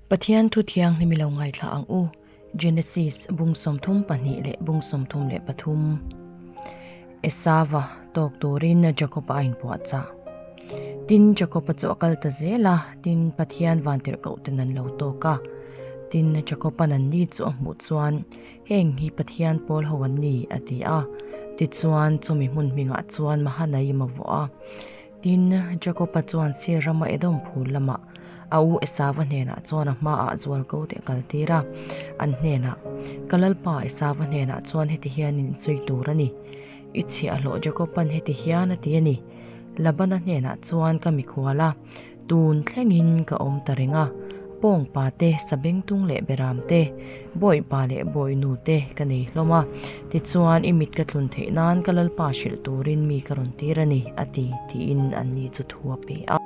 Pathian Thu Thianghlim i lo ngaithla ang u, Genesis bung sawmthum pahnih leh bung sawmthum leh pathum. Esava tawk turin Jakopa a inpuahchah. Tin, Jakopa chu a kal ta zel a, tin, Pathian vantirh koh ten an lo tawk a. Tin, Jakopa nanni chu a hmuh chuan, Heng hi Pathian pawl ho an ni, a ti a. Tichuan, chumi hmun hmingah chuan Mahanaim a vuah a. Tin, Jakopa chuan Seir rama Edom phûl lamah a u Esava hnênah chuan a hmaah zual ko teh kal tîr a, an hnênah, Ka lalpa Esava hnênah chuan heti hian in sawi tûr a ni, I chhiah hlawh Jakopa'n heti hian a ti a ni, Labana hnênah chuan ka mikhual a, tûn thlengin ka awm ta reng a, pawngpate, sabengtung leh beramte, Bawipa leh bawinu te ka nei hlawm a, tichuan i mit ka tlun theih nan ka Lalpa hrilh turin mi ka rawn tir a ni, a ti, tiin an ni chu thu a pe a.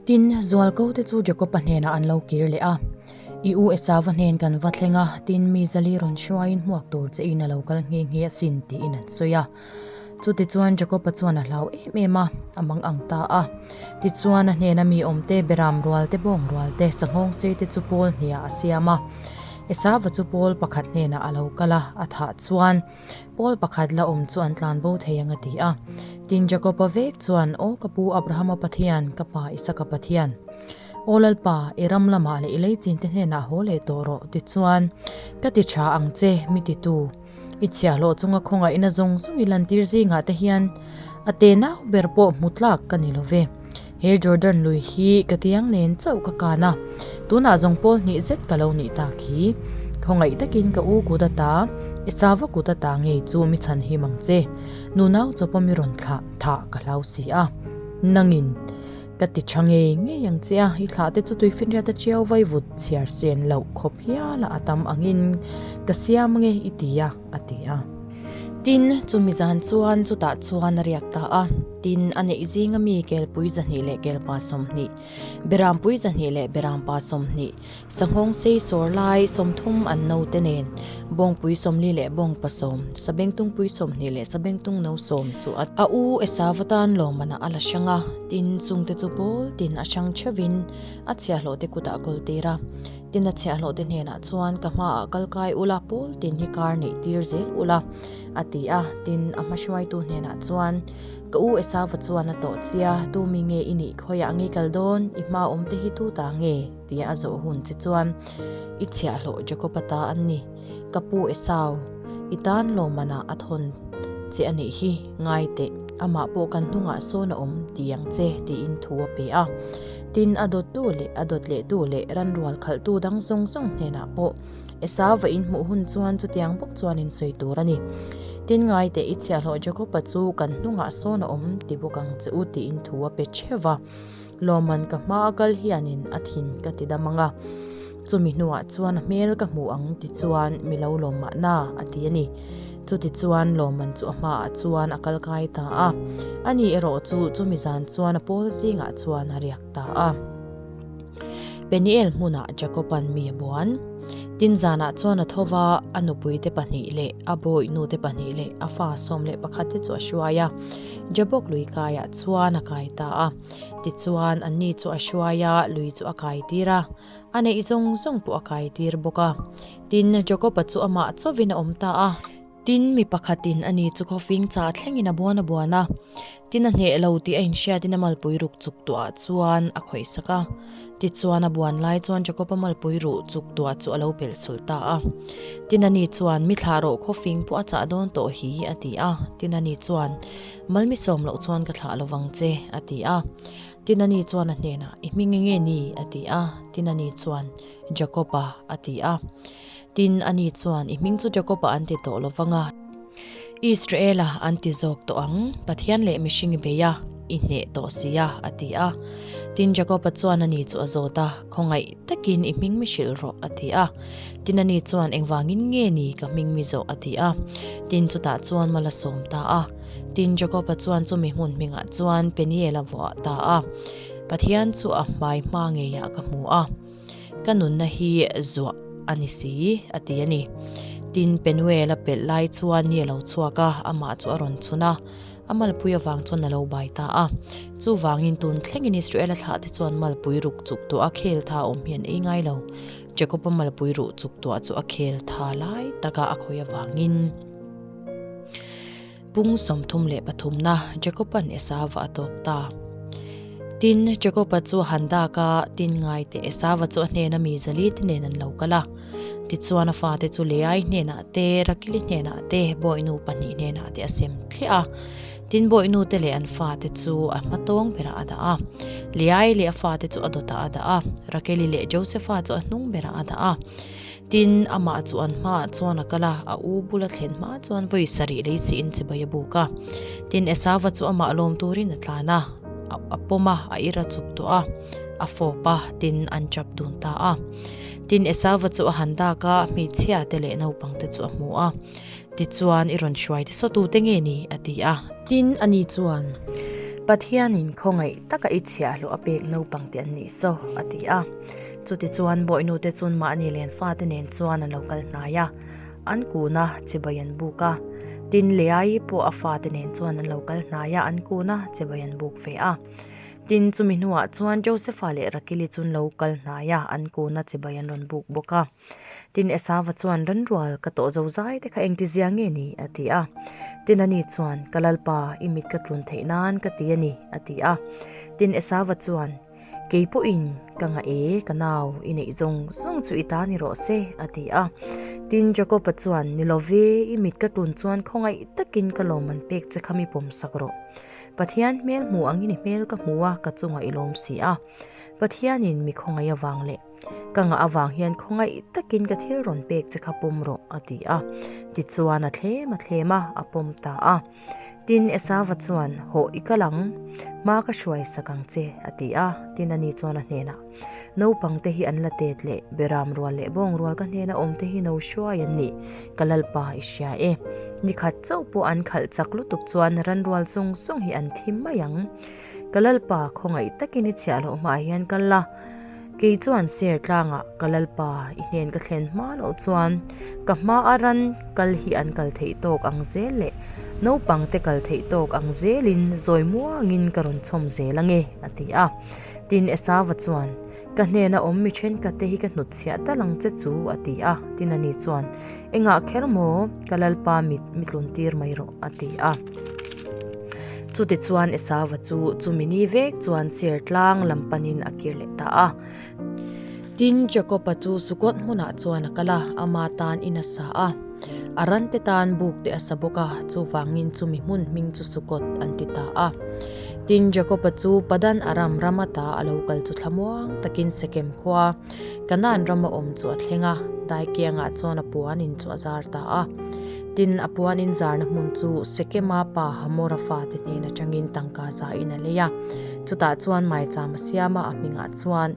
Tin, Zualko te chu Jakopa hnenah an lo kir leh a, I u Esava hnen kan va thleng a, tin mi zali rawn hruaiin hmuak tur che in a lo kal nghe nghe asin, tiin an sawi a. Chuti chuan Jakopa chuan a hlau em em a, a mang ang ta a. Tichuan a hnena mi awm te, beram rual te, bawng rual te, sanghawng sei te chu Paul hniah a siam a. Esava chu Paul pakhat hnenah a lo kal a, a thah chuan, Paul pakhat la awm chu an tlan bo thei ang a ti a. Tin, Jakopa vek chuan, Aw ka pu Abrahama Pathian, ka pa Isaka Pathian. Aw lalpa, i ram lamah leh i leichin te hnenah haw leh tawh rawh, tichuan ka ti tha ang che, mi titu. I chhiahhlawh chunga khawngaih ina zawng zawng i lantir zingah te hian a te nau ber pawh hmu tlak ka ni lo ve. He Jordan lui hi ka tiang nen chauh ka kan a, tunah zawng pawl hnih zet ka lo nih tak hi. Khawngaih takin ka u kut ata, i sava kut ata ngei chu mi chhan him ang che. Nunau chawpa mi rawn thlah thah ka hlau si a, nangin. Ka ti tha ngei ngei ang che a, i thlah te chu tui finriat a ṭiau vai vut chhiar sen loh khawp hial a, a tam angin ka siam nge i ti a, a ti a. Tin, chumi zan chuan chutah chuan a riak ta a. Tin, a neih zing ami Kelpuiza hnih leh Kelpa sawmhnih, Berampuiza hnih leh Berampa sawmhnih, Sanghawng sei sawr lai sawmthum an no te nen Bawngpui sawmli leh Bawngpa sawm, Sabengtung pui sawmhnih leh Sabengtung no sawm chu a a u Esa vatan lawmana a la hrang a, tin chungte chu pawl tin a hrang theuhin a chhiahhlawhte kutah kawl tir a, tin a chhiahhlawhte hnenah chuan ka hmaah kal kai ula pawl tin hi kar neih tir zel ula a ti a, tin a hmahruaitu hnenah chuan. Ka u Esava chuan a tawh chia, Tumi nge i nih khawiah a ngei kal dawn? I hma awmte hi tu ta nge? tia a zawh hun che chuan, I chhiah hlawh Jakob ata an ni. Ka pu Esau, i tan lawmana a thawn che a nih hi, ngai teh, amah pawh kan hnungah sawn a awm ti ang che, tiin thu a pe a. Tin, a dawttu leh a dawt lehtu leh ran rual khalhtu dang zawng zawng hnenah pawh, Esau va inhmuh hun chuan chutiang bawk chuan in sawi tur a ni. Tin ngaite i chhiahhlawh Jacob-a chu kan hnungah sawn a awm ti bawk ang che u tiin thu a pe theuh va. Lawmman ka hma a kal hianin a thin ka ti dam anga, chumi hnuah chuan a hmel ka hmu ang ti chuan mi lo lawm mahna a ti a ni. Chuti chuan Lawmman chu a hmaah chuan a kal kai ta a. Ani erawh chu chumi zan chuan a pawl zingah chuan a riak. ta a. Peniel hmunah Jakoban mi a buan. Tin zanah chuan a tho va, a nupuite pahnih leh a bawi nute pahnih leh a fa sawm leh pakhat te chu a hruai a. Jabok lui kaiah chuan a kai ta a. Tichuan anni chu a hruai a, lui chu a kai tir a. A neih zawng zawng pawh a kai tir bawk a. Tin, Jakoba chu amah chawvin a awm ta a. Tin, mi pakhatin a ni chu khaw fing chah thlengin a buan a buan a. Tin, a hneh lo tih a inhriatin a malpui ruk chuk tuah chuan a khawihsak a. Tichuan, a buan lai chuan Jakopa malpui ruh chuk tuah chu a lo pel sawl ta a. Tin, a ni chuan, Mi thlah rawh, khaw fing pawh a chah dawn tawh hi, a ti a. Tin, a ni chuan, Malmi sawm loh chuan ka thlah lo vang che, a ti a. Tin, a ni chuan a hnenah, I hming e nge ni? a ti a. Tin, a ni chuan, Jakopa, a ti a. Tin, a ni chuan, I hming chu Jakopa an ti tawh lo vang a, Israela an ti zawk tawh ang, Pathian leh mihring beia i hneh tawh si a, a ti a. Tin, Jakopa chuan a ni chu a zawt a, Khawngaih takin i hming mi hrilh rawh, a ti a. Tin, a ni chuan, Engvangin nge ni ka hming mi zawh? a ti a. Tin, chutah chuan ma la sawm ta a. Tin, Jakopa chuan chumi hmun hmingah chuan Peniel a vuah ta a, Pathian chu a hmai hma ngeiah ka hmu a. Ka nunna hi zuah a ni si, a ti a ni. Tin, Penuel a pelh lai chuan ni a lo chhuak a, amah chu a rawn chhun a. A malpui avang chuan a lo bai ta a. Chuvangin, tun thlengin Israela thlah te chuan malpui ruk chuk tuah a khel tha awm hian ei ngai lo. Jakopa malpui ruh chuk tuah chu a khel tha lai taka a khawih avangin, Pung sawmthum leh pathumna Jacob-a'n Esava a tawk ta. Tin, Jacob-a chu a han dak a, tin ngaite Esava chu a hnena mi zali te nen an lo kal a. Tichuan a fate chu Leai hnenah te, Rakili hnenah te, bawihnu pahnih hnenah te a sem thliah a. Tin, bawinute leh an fate chu a hmatawng berah a dah a. Leai leh a fate chu a dawtah a dah a. Rakili leh Joseph-a chu a hnung berah a dah a. Tin, amah chu an hmaah chuan a kal a, a u bula thlen hma chuan vawi sarih lei chiin chibai a buk a. Tin, Esava chu amah lawm turin a tlan a, a pawm a, a ir a chup tawh a, a fawp a, tin, an tap dun ta a. Tin, Esava chu a han dak a, hmeichhia te leh naupang te chu a hmu a, tichuan, I rawn hruai tisaw tu te nge ni? a ti a. Tin, ani chuan, Pathianin khawngaih taka i chhiah hlawh a pek naupang te an ni saw, a ti a. Chuti chuan bawihnu te chun mahni len fate nen chuan an lo kal hnai a, an kun a chibai an buk a. Tin leh ai pawh a fate nen chuan an lo kal hnai a, an kun a chibai an buk ve a. Tin chumi hnuah chuan Josepha leh Rakili chun lo kal hnai a, an kun a chibai an rawn buk bawk a. Tin Esava chuan Rengrual ka tawh zo zai te kha engti zia nge ni? a ti a. Tin a ni chuan, Ka lalpa, i mit ka tlun theih nan ka ti a ni, a ti a. Tin Esava chuan. Kei pawhin ka ngah e, ka nau, i neih zawng zawng chu i ta ni rawh se, a ti a. Tin, Jakopa chuan, Ni lo ve, i mit ka tlun chuan khawngaih takin ka lawm an pek che kha mi pawmsak rawh. Pathian hmel hmuh ang i ni hmel ka hmu a, ka chungah i lawm si a. Pathianin mi khawngaih avang leh ka ngah avang hian khawngaih takin ka thil rawn pek che kha pawm rawh, a ti a. Tichuan a thlem a thlem a, a pawm ta a. Tin, Esava chuan, Haw i kal ang, hma ka hruai sak ang che, a ti a. Tin, ani chuan a hnenah, Naupangte hi an la tet leh, beram rual leh bawng rual ka hnena awmte hi no hruai an ni, ka lalpa i hria e. Nikhat chauh pawh an khalh chak lutuk chuan ranrual zawng zawng hi an thim mai ang. Ka Lalpa khawngaih takin i chhiah loh hmaah hian ka la. Kei chuan chair tlangah ka Lalpa i hnen ka thlen hma loh chuan ka hma a ran kal hi an kal theih tawk ang zel leh naupangte kal theih tawk ang zelin zawi muangin ka rawn chhawm zel ange a ti a. Tin Esava chuan. Ka hnena awm mi thenkhat te hi ka hnut chhiah ta lang che chu a ti a, tin a ni chuan engah kher maw ka lalpa mit mi tlun tir mai rawh a ti a. Chutih chuan Esava chu chumi ni vek chuan Sertlang lam panin a kir leh ta a. Tin Jakopa chu Sukot hmunah chuan a kal a, ama tan in a sa a. A rante tan bukte a sa bawk a, chuvangin chumi hmun hming chu Sukot an ti ta a. Tin, Jakopa chu Padan-aram ram ata a lo kal chu thlamuang takin Sekem khua Kanaan rama awm chu a thleng a, Daikianga chuan a puanin chu a zar ta a. Tin, a puanin zarna hmun chu Sekema pa Hamora fate hnen atangin tangka zain a lei a. Chutah chuan Maicham a siam a, a hmingah chuan.